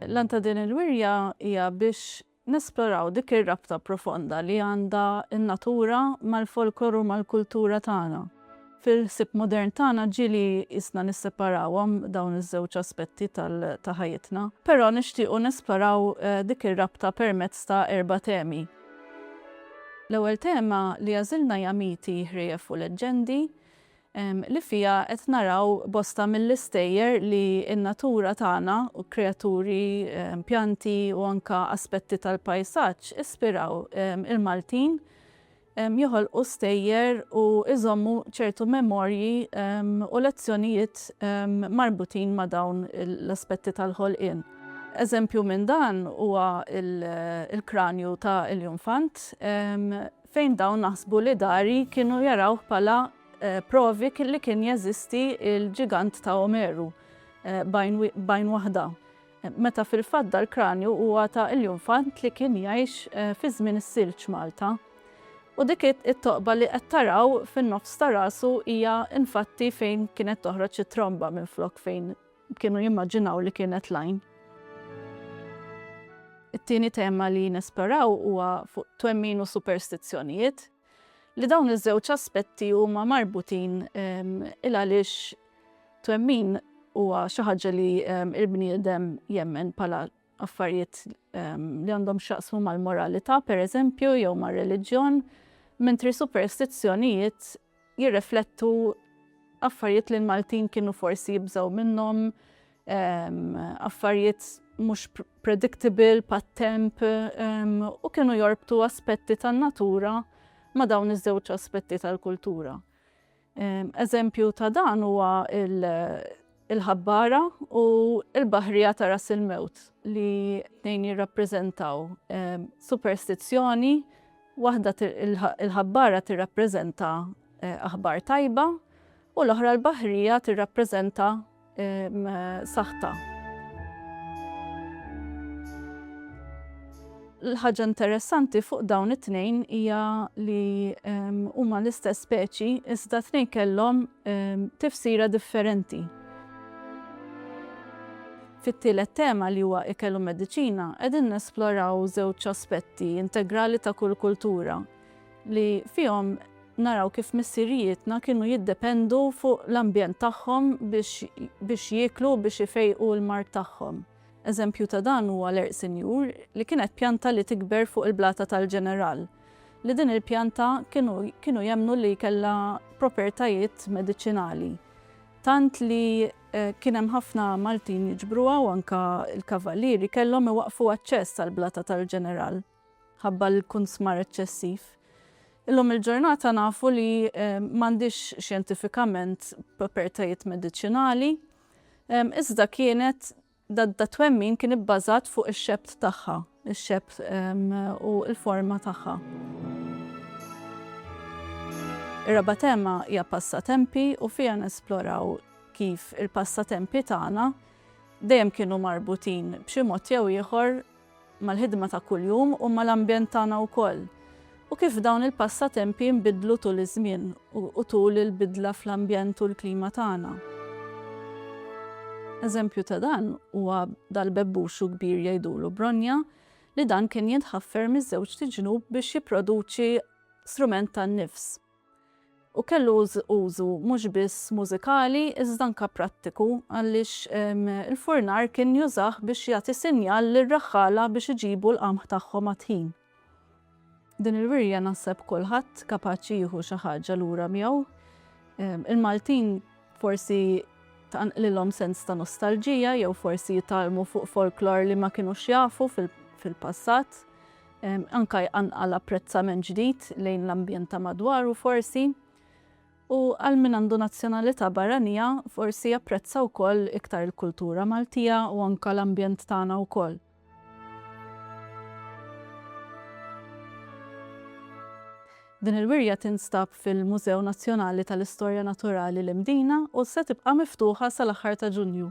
L-għan ta' din il-wirja hija biex nesploraw dik ir-rabta profonda li għandha n-natura mal-folklor u mal-kultura tagħna. Fil-ħsieb modern tagħna ġieli qisna nisseparawhom dawn iż-żewġ aspetti ta' ħajjitna, però nixtiequ nesploraw dik ir-rabta permezz ta' erba' temi. L-ewwel tema li għażilna hija miti, ħrief u leġġendi, li fiha qed naraw bosta mill-istejjer li n-natura tagħna, kreaturi, pjanti u anke aspetti tal-pajsaġġ ispiraw il-Maltin joħolqu stejjer u jżommu ċertu memorji u lezzjonijiet marbutin ma' dawn l-aspetti tal-ħolqien. Eżempju minn dan huwa l-kranju ta' Iljunfant, fejn dawn naħsbu li dari kienu jarawh bħala provi li kien jeżisti l-ġigant ta' Omeru b'għajn waħda, meta fil-fatt dal-kranju huwa ta' Iljunfant li kien jgħix fi żmien is-Silġ Malta. U dik it-toqba li qed taraw fin-nofs ta' rasu hija infatti fejn kienet toħroġ it-tromba minflok fejn Kienu jimmaġinaw li kienet l-għajn. It-tieni tema li nesploraw huwa fuq twemmin u superstizzjonijiet, li dawn iż-żewġ aspetti huma marbutin il-għaliex twemmin huwa xi ħaġa li l-bniedem jemmen bħala affarijiet li għandhom x'jaqsmu mal-moralità, pereżempju, jew mar-reliġjon, mentri superstizzjonijiet jirriflettu affarijiet li l-Maltin kienu forsi jibżgħu minnhom, affarijiet mhux predictable pat-temp u kienu jorbtu aspetti tan-natura ma' dawn iż-żewġ aspetti tal-kultura. Eżempju ta' dan huwa il-Ħabbara u l-Baħrija ta' Ras il-Mewt li tnejn jirrappreżentaw superstizzjoni, waħda il-Ħabbara tirrappreżenta aħbar tajba u l-oħra l-Baħrija tirrappreżenta saħta. L-ħaġa interessanti fuq dawn it-tnejn hija li huma l-istess speċi iżda t-tnejn kellhom tifsira differenti. Fit-tielet tema li huwa Ikel u Mediċina qegħdin nesploraw żewġ aspetti integrali ta' kull kultura li fihom naraw kif missirijietna kienu jiddependu fuq l-ambjent tagħhom biex jieklu u biex ifejqu l-mard tagħhom. Eżempju ta' dan huwa l-għerq sinjur li kienet pjanta li tikber fuq il-blata tal-Ġeneral, li din il-pjanta kienu kienu jemmnu li kellha propertajiet mediċinali, tant li kien hemm ħafna Maltin jiġbruha u anke l-kavallieri kellhom iwaqqfu aċċess għall-blata tal-Ġeneral ħabba l-kunsmar eċċessiv. Illum il-ġurnata nafu li m'għandhiex xjentifikament propertajiet mediċinali, Iżda kienet dat-twemmin kien ibbażat fuq ix-xebt tagħha, ix-xebt u l-forma tagħha. Ir-raba' tema hija passatempi u fiha nesploraw kif il-passatempi tagħna dejjem kienu marbutin b'xi mod jew ieħor mal-ħidma ta' kuljum u mal-ambjent tagħna wkoll, u kif dawn il-passatempi nbidlu tul iż-żmien u tul il-bidla fl-ambjent u l-klima tagħna. Eżempju ta' dan huwa dal-bebbuxu kbir jgħidulu Bronja li dan kien jintħaffer miż-żewġt iġnub biex jipproduċi strument tan-nifs. u kellu użu mhux biss mużikali iżda anke prattiku għaliex il-furnar kien jużah biex jagħti sinjal lir-raħħala biex iġibu l-qamħ tagħhom għat-tħin. Din il-wirja naħseb kulħadd kapaċi jieħu xi ħaġa lura miegħu. Il-Maltin forsi tqanqlilhom sens ta' nostalġija jew forsi jitgħallmu fuq folklor li ma kinux jafu fil-passat. Anke jqanqal apprezzament ġdid lejn l-ambjent ta' madwaru forsi. U għal min għandu nazzjonalità barranija forsi japprezza wkoll iktar il-kultura Maltija u anke l-ambjent tagħna wkoll. Din il-wirja tinstab fil-Mużew Nazzjonali tal-Istorja Naturali l-Imdina u se tibqa' miftuħa sal-aħħar ta' Ġunju.